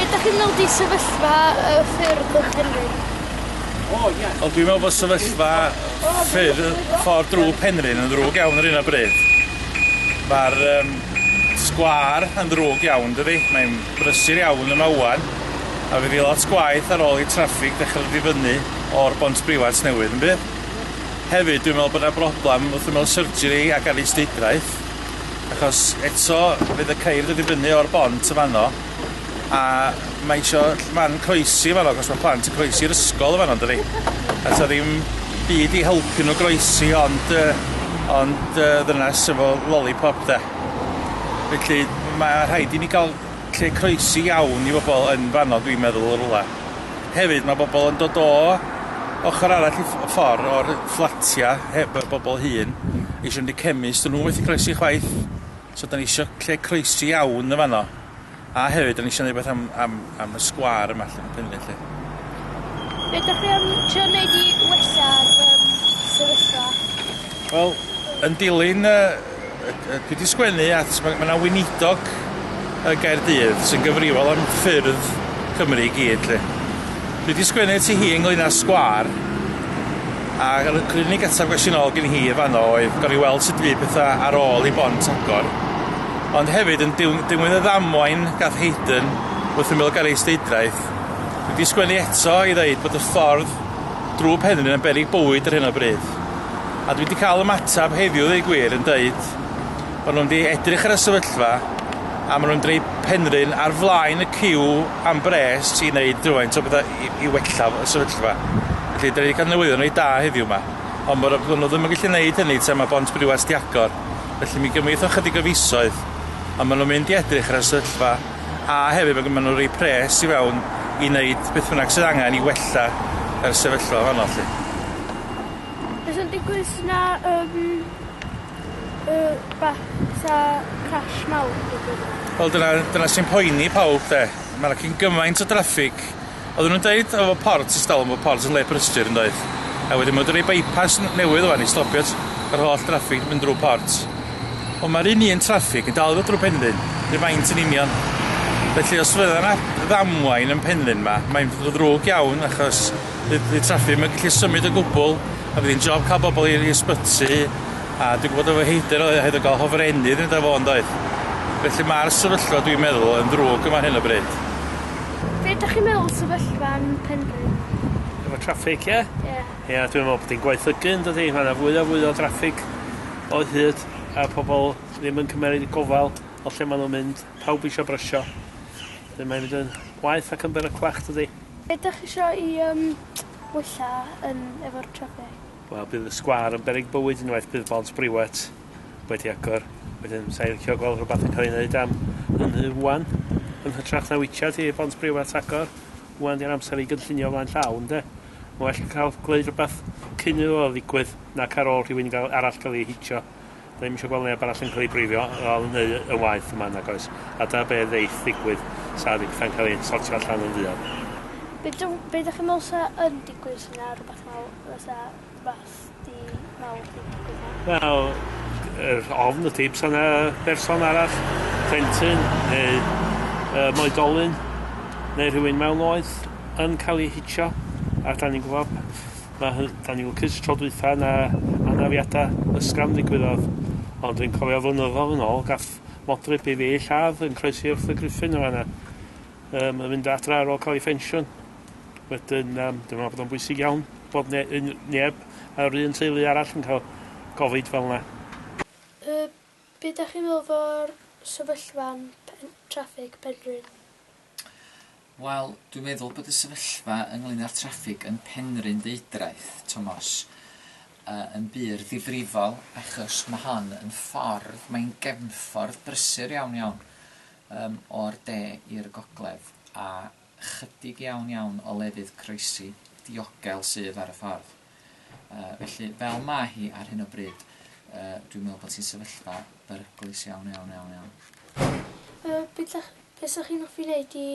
be' 'dach chi'n meddwl 'di sefyllfa y ffyrdd yng Nghymru? O ie. Wel dwi'n meddwl bod sefyllfa ffyrdd ffordd drwg Penrhyn yn ddrwg iawn ar hyn o bryd. Ma'r yym sgwâr yn ddrwg iawn dydi? Mae'n brysur iawn yma ŵan a fydd 'i lot gwaeth ar ôl i traffig dechre dod i fyny. o'r Bont Briwat newydd yn bydd? Hefyd dwi'n meddwl bod yna broblem wrth ymyl surgery ac ar is-deudraeth achos eto fydd y ceir dod i fyny o'r bont yn fanno a mae isio man croesi yn fanno achos mae plant yn croesi i'r ysgol yn fanno yn dydi? A so ddim byd i helpu nhw groesi ond yy ond yy ddynas efo lolipop de? Felly mae rhaid i ni gael lle croesi iawn i bobl yn fanno dwi'n meddwl yn rwla. Hefyd mae bobl yn dod o ochr arall y ffordd o'r fflatiau heb y bobl hŷn eisiau mynd i chemist nhw methu croesi chwaith so da ni eisiau lle croesi iawn yn fanno a hefyd da ni eisiau rhywbeth am, am, am y sgwar yma lle yn lle. Be ydych chi am trio wneud i wella'r um, sefyllfa? Wel, yn dilyn y Dwi 'di sgwennu at... Mae 'na weinidog yn Gaerdydd sy'n gyfrifol am ffyrdd Cymru i gyd 'lly. Dwi 'di sgwennu at hi ynglŷn â sgwâr a yr unig ateb ges i nôl gen hi yn fanno oedd gawn ni weld sut fydd petha ar ôl i Bont agor ond hefyd yn dilyn dilyn y ddamwain gath Hayden wrth ymyl garej Eisteddfod dwi 'di sgwennu eto i ddeud bod y ffordd drwy Penrhyn yn beryg bywyd ar hyn o bryd. a dwi 'di cael ymateb heddiw ddeu gwir yn deud bod nhw'n mynd i edrych ar y sefyllfa a maen nhw'n dweud Penrhyn ar flaen y ciw am bres i wneud rhywfaint o bethau i, i wella y sefyllfa. Felly, da ni wedi cael newyddion reit da heddiw yma. Ond mae'r nhw ddim yn gallu gwneud hynny tra mae Bont Briwas di agor. Felly mi gymryd o chydig o fisoedd. Ond maen nhw'n mynd i edrych ar y sefyllfa a hefyd maen nhw'n rhoi pres i fewn i wneud beth bynnag sydd angen i wella yr sefyllfa fanno lly. Be' sy'n digwydd os na yym yy rwbath fatha crash mawr yn digwydd yma? Wel dyna dyna sy'n poeni pawb 'de. Ma' 'na cyn gymaint o draffig. Oeddwn nw'n deud efo port ers talwm bo' port yn le prysur yndoedd? A wedyn ma' wedi roi by-pass n- newydd ŵan i stopio t- yr holl draffig mynd drw port. Ond ma'r un un traffig yn dal i ddod drw Penrhyn, rhyw faint yn union. Felly os fydda 'na ddamwain yn Penrhyn 'ma mae'n dd- ddrwg iawn achos Bydd bydd traffig ddim yn gallu symud o gwbl a bydd hi'n job cael bobl i'r i'r sbyty a dwi'n gwybod efo heidr oedd hefyd yn cael hofrennydd yn fo yndoedd? Felly mae'r sefyllfa dwi'n meddwl yn ddrwg yma ar hyn o bryd. Be' dych chi'n meddwl sefyllfa yn Penrhyn? Efo traffig ie? Ie. Ie dwi'n meddwl bod hi'n gwaethygu yndydi ma' 'na fwy a fwy o draffig o hyd a pobol ddim yn cymeryd y gofal o lle ma' nw'n mynd pawb isio brysio 'dyn mae'n mynd yn waeth ac yn beryclach dydi? Be' dych chi isio i yym wella yn efo'r traffig? Wel bydd y sgwâr yn beryg bywyd unwaith bydd bont briwet wedi agor. Wedyn sa i licio gweld rhwbath yn ca'l ei neud am hynny ŵan yn hytrach na witsiad hi bont briwet agor. Ŵan di'r amser i gynllunio flaen llaw ynde? Ma' well ca'l gweud rwbath cyn iddo fo ddigwydd nac ar ôl rhywun ga'l arall ga'l ei hitio. Ddim eisiau gweld neb arall yn cael ei brifio fel neu yn waeth yma nag oes. A dyna be ddeith ddigwydd sa ddim pethau'n cael ei sortio allan yn fuan. Be dw, be dych chi'n meddwl sa yn digwydd sy'n na rhywbeth mawr, fysa rhywbeth di mawr di digwydd na? Wel, yr ofn y tips yna berson arall, plentyn neu uh, moedolyn neu rhywun mewn oed yn cael ei hitio a da ni'n gwybod Mae hy- da ni'n lwcus tro dwytha na anafiada ysgafn ddigwyddodd ond dwi'n cofio flynyddodd yn ôl gath modryb i fi lladd yn croesi wrth y Griffin yn fanna yym yn mynd adra ar ôl cael ei ffensiwn wedyn yym dwi'n meddwl bod o'n bwysig iawn bod ne- un- neb yr un teulu arall yn cael gofid fel yna. Yy be' 'dach chi'n meddwl o'r sefyllfa'n pen- traffig Penrhyn? Wel, dwi'n meddwl bod y sefyllfa ynglŷn â'r traffig yn Penrhyn Ddeudraeth, Tomos, yn bur ddifrifol achos mae hon yn ffordd, mae'n gefnffordd brysur iawn iawn yym o'r de i'r gogledd a chydig iawn iawn o lefydd croesi diogel sydd ar y ffordd. Yy felly fel ma' hi ar hyn o bryd yy dwi'n me'wl bod hi'n sefyllfa beryglus iawn iawn iawn iawn. Yy be' 'dach be' sa chi'n offi neud i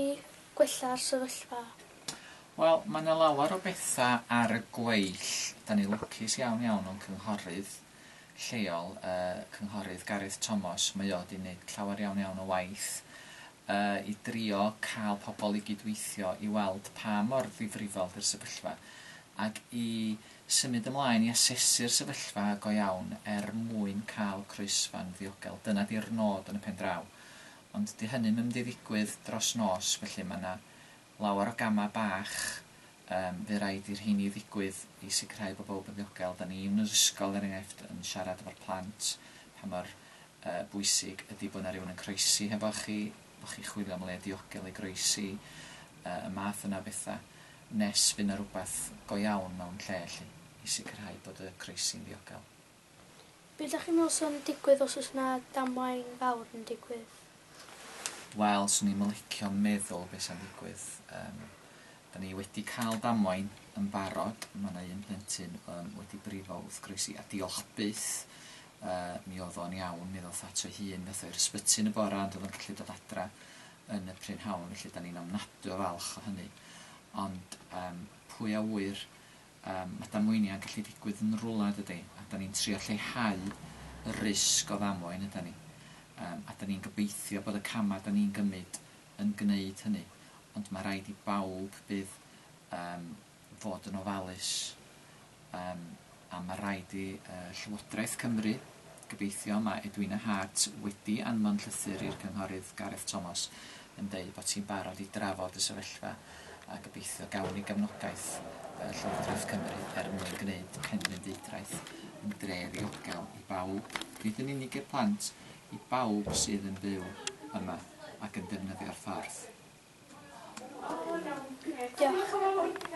gwella'r sefyllfa? Wel ma' 'na lawer o betha ar y gweill 'dan ni lwcus iawn iawn o'n cynghorydd lleol yy cynghorydd Gareth Tomos mae o 'di neud llawer iawn iawn o waith a i drio cael pobl i gyd-weithio i weld pa mor ddifrifol 'di'r sefyllfa, ac i symud ymlaen i asesu'r sefyllfa go iawn er mwyn cael croesfan ddiogel. Dyna 'di'r nod yn y pen draw. Ond 'di hynny'm yn mynd i ddigwydd dros nos, felly mae 'na Lawer o gamau bach yym fu raid i'r rheini ddigwydd i sicrhau bod pawb yn ddiogel. Dan ni yn yr ysgol er enghraifft yn siarad efo'r plant pa mor yy bwysig ydi bod 'na rywun yn croesi hefo chi, bo' chi'n chwilio am le diogel i groesi, yy y math yna o betha, nes fy' 'na rwbath go iawn mewn lle 'lly i sicrhau bod y croesi'n ddiogel. Be dach chi'n meddwl sy'n digwydd os oes na damwain fawr yn digwydd? Wel, swn i'm yn licio meddwl be sa'n digwydd. Yym, da ni wedi cael damwain yn barod, ma' na un plentyn yym wedi brifo wrth groesi, a diolch byth yy mi oedd o'n iawn, mi ddoth at o'i hun, nath o i'r ysbyty yn y bora ond oedd o'n gallu dod adra yn y prynhawn, felly da ni'n ofnadwy o falch o hynny. Ond yym pwy a ŵyr? Yym, mae damweiniau'n gallu digwydd yn rwla, yn dydi? A 'dan ni'n trio lleihau y risg o ddamwain, ydan ni? Yym, a 'dan ni'n gobeithio bod y camau 'dan ni'n gymryd yn gwneud hynny. Ond mae rhaid i bawb bydd yym fod yn ofalus, yym, a mae rhaid i yy Llywodraeth Cymru, gobeithio, mae Edwina Hart wedi anfon llythyr i'r Cynghorydd Gareth Thomas, yn deud bod hi'n barod i drafod y sefyllfa a gobeithio gawn ni gefnogaeth fel Llywodraeth Cymru er mwyn gwneud Penrhyndeudraeth yn dre ddiogel i bawb, nid yn unig i'r plant, i bawb sydd yn byw yma ac yn defnyddio'r ffordd. Diolch.